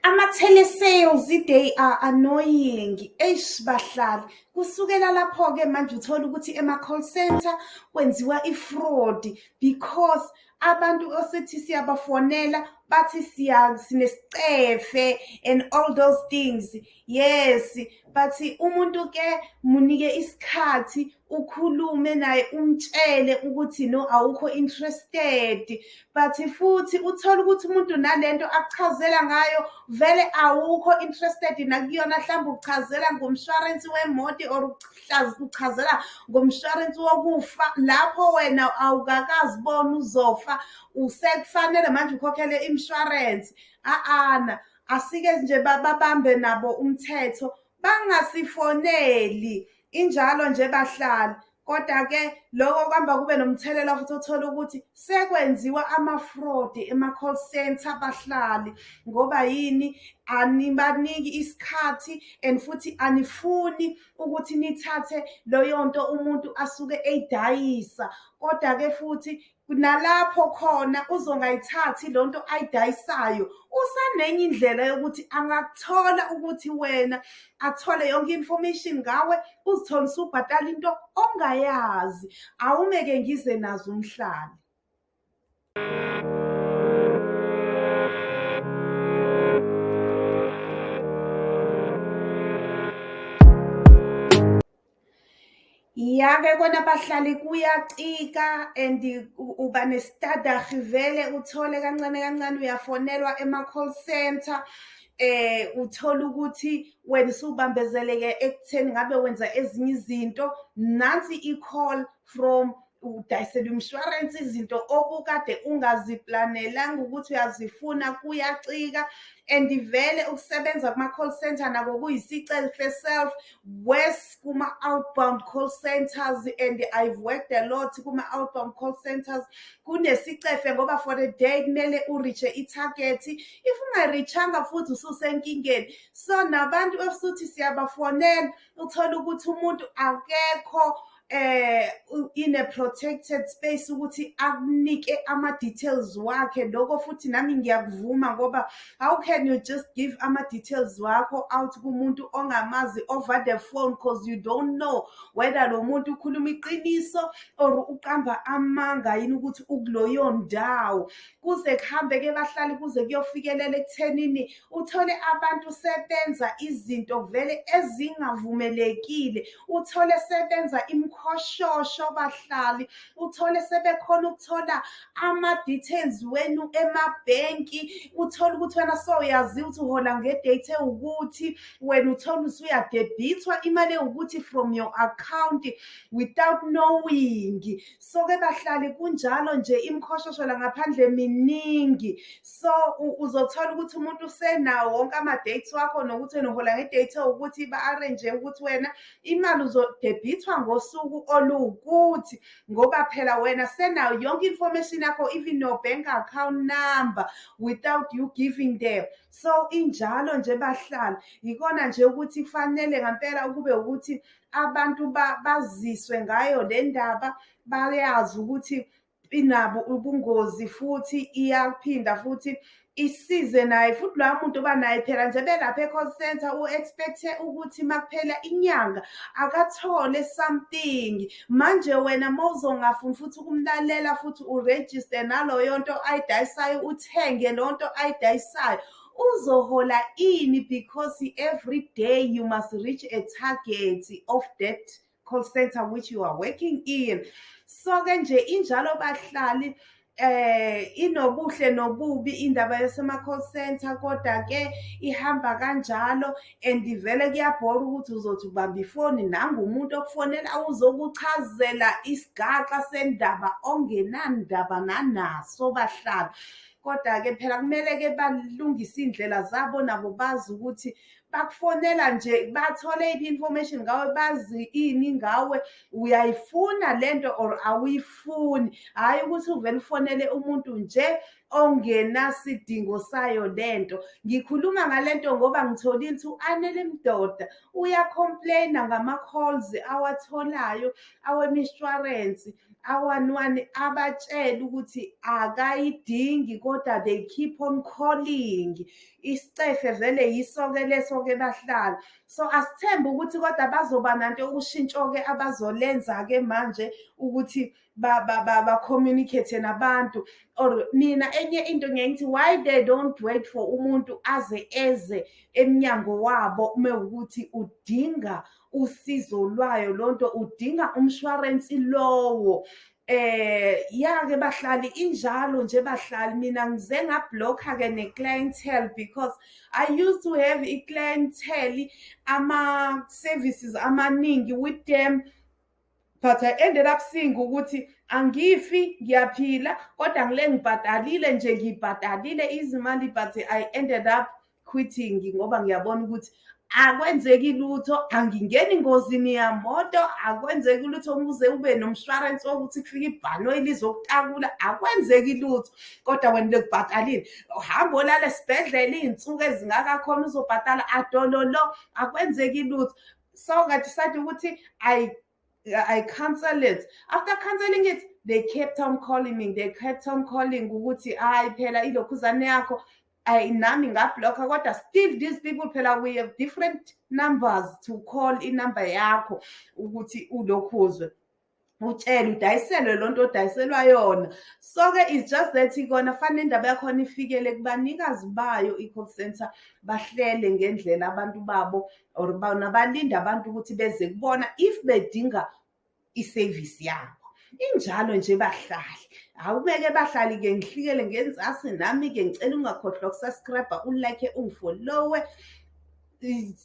Ama-telesales they are annoying eish bahlali kusukela lapho-ke manje uthole ukuthi ema-call center kwenziwa i-fraud because abantu osithi siyabafonela bathi siya sinesicefe and all those things yes bathi umuntu-ke munike isikhathi ukhulume naye umtshele ukuthi no awukho interested but futhi uthole ukuthi umuntu nalento akuchazela ngayo vele awukho interested nakuyona mhlawumbe ukuchazela ngomshwarensi wemoto or uchazela ngomshwarensi wokufa lapho wena awukakazibona uzofa usekufanele manje ukhokhele imshwarensi a-ana asike nje babambe nabo umthetho bangasifoneli Injalo nje bahlali kodwa ke lokho kuhamba kube nomthelela futhi othola ukuthi sekwenziwa ama-fraud ema-call center abahlali ngoba yini anibaniki isikhathi and futhi anifuni ukuthi nithathe loyo nto umuntu asuke eyidayisa kodwa-ke futhi nalapho khona uzongayithathi lo nto ayidayisayo usanenye indlela yokuthi angakuthola ukuthi wena athole yonke information ngawe uzithole usubhatala into ongayazi awumeke ngize nazo umhlali Ya ke kona bahlali kuyacika and uba nesitadahi vele uthole kancane kancane uyafonelwa ema-call centre eh uthola ukuthi wena usubambezeleke ekutheni ngabe wenza ezinye izinto nansi i-call from udayisela umshwarensi izinto obukade ungaziplanelanga ukuthi uyazifuna kuyacika and vele ukusebenza kuma-call center nako kuyisicelfe self worse kuma-outbound call centers and i've worked a lot kuma-outbound call centers kunesicefe ngoba for a day kumele uriche ithagethi if ungarichanga futhi ususenkingeni so nabantu efuthi siyabafonela uthole ukuthi umuntu akekho eh in a protected space ukuthi akunike ama details wakhe lokho futhi nami ngiyakuvuma ngoba how can you just give ama details wakho out kumuntu ongamazi over the phone because you don't know whether lo muntu ukhuluma iqiniso or uqamba amanga yini ukuthi ukuloyo ndawo kuze kuhambe ke bahlali kuze kuyofikelela ekuthenini uthole abantu sebenza izinto vele ezingavumelekile uthole sebenza imkhoshosho bahlali uthole sebekhona ukuthola ama-details wenu emabhenki uthole ukuthi wena soyaziwa ukuthi uhola ngedate ewukuthi wena uthole usuyadebhithwa imali ewukuthi from your account without knowing so ke bahlali kunjalo nje imkhoshoshela ngaphandle miningi so uzothola ukuthi umuntu usenawo wonke ama-dates wakho nokuthi wena uhola nge-date ukuthi ba-arrange ukuthi wena imali uzodebhithwa ngosuku oluwukuthi ngoba phela wena senawo yonke information yakho even your bank account number without you giving them so injalo nje bahlali yikona nje ukuthi kufanele ngampela ukube ukuthi abantu baziswe ngayo le ndaba bayazi ukuthi inabo ubungozi futhi iyaphinda futhi isize naye futhi loya muntu oba naye phela nje belapha e-call center u-expecthe ukuthi makuphela inyanga akathole something manje wena ma uzongafuni futhi ukumlalela futhi urejiste naloyo nto ayidayisayo uthenge leyo nto ayidayisayo uzohola ini because every day you must reach a target of that call center which you are working in so ke nje injalo bahlali eh inobuhle nobubi indaba yesema call center kodwa ke ihamba kanjalo and vele kuyabhora ukuthi uzothi ubamba ifoni nangu umuntu okufonela uzokuchazela isigaxa sendaba ongenandaba nanaso bahlala Kodwa-ke phela kumele-ke balungise iy'ndlela zabo nabo bazi ukuthi bakufonela nje bathole iphi information ngawe bazi ini ngawe uyayifuna lento or awuyifuni hhayi ukuthi uvele ufonele umuntu nje ongenasidingo sayo lento ngikhuluma ngalento ngoba ngitholile ukuthi u-anele mdoda uyacomplaina ngama-calls awatholayo awemishwarensi awanwani abatshele ukuthi akayidingi kodwa they keep on calling isicefe vele yisoke leso-ke bahlala so asithembe ukuthi kodwa bazoba nanto ushintsho-ke abazolenza-ke manje ukuthi ba-communicate nabantu or mina enye into ngiye ngithi why they don't wait for umuntu aze eze emnyango wabo uma ukuthi udinga usizo lwayo lonto udinga umshwarensi lowo eh yake bahlali injalo nje bahlali mina ngize ngablocker ke ne clientele because i used to have i clientele ama services amaningi with them but I ended up seeing ukuthi angifi ngiyaphila kodwa ngile ngibhadalile nje ngibhadalile izimali but I ended up quitting ngoba ngiyabona ukuthi akwenzeki lutho angingeni ngozini yamoto akwenzeki lutho ukuze ube nomshwarensi wokuthi kufike ibhanoyi lizokutakula akwenzeki lutho kodwa wena lekubhatalile uhamba olala esibhedlela iy'nsuku ezingakakhona uzobhatala adololo akwenzeki lutho so I decided ukuthi I I cancel it. After canceling it, they kept on calling me. They kept on calling ukuthi hayi phela ilokhuzane yakho I nami ngablocker kodwa still these people phela we have different numbers to call inumber yakho ukuthi ulokhuzwe. utshelwe udayiselwe lo nto odayiselwa yona so-ke is just that kona fanele indaba yakhona ifikele kubanikazi bayo i-call center bahlele ngendlela abantu babo or bona balinde abantu ukuthi beze kubona if bedinga isevisi yabo injalo nje bahlali awubeke bahlali ke ngihlikele ngenzasi nami ke ngicela ungakhohlwa ukusubscribe ulike ungifollowe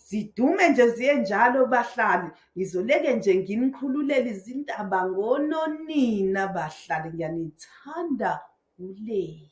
zidume nje ziye njalo bahlali ngizoleke nje nginikhululele izindaba ngononina bahlali ngiyanithanda ulei